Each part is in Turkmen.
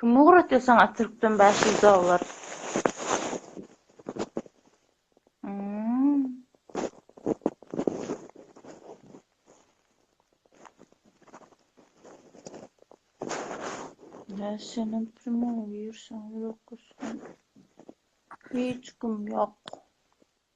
Kim ugratýar saňa türkden bäş ýüz dollar? Näçe senem primow girseň ýok gitsin. Hiç kim ýok.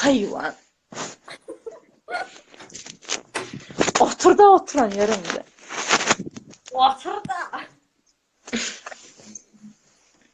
Haýwan. Oturda oturan ýeriňde. Oturda.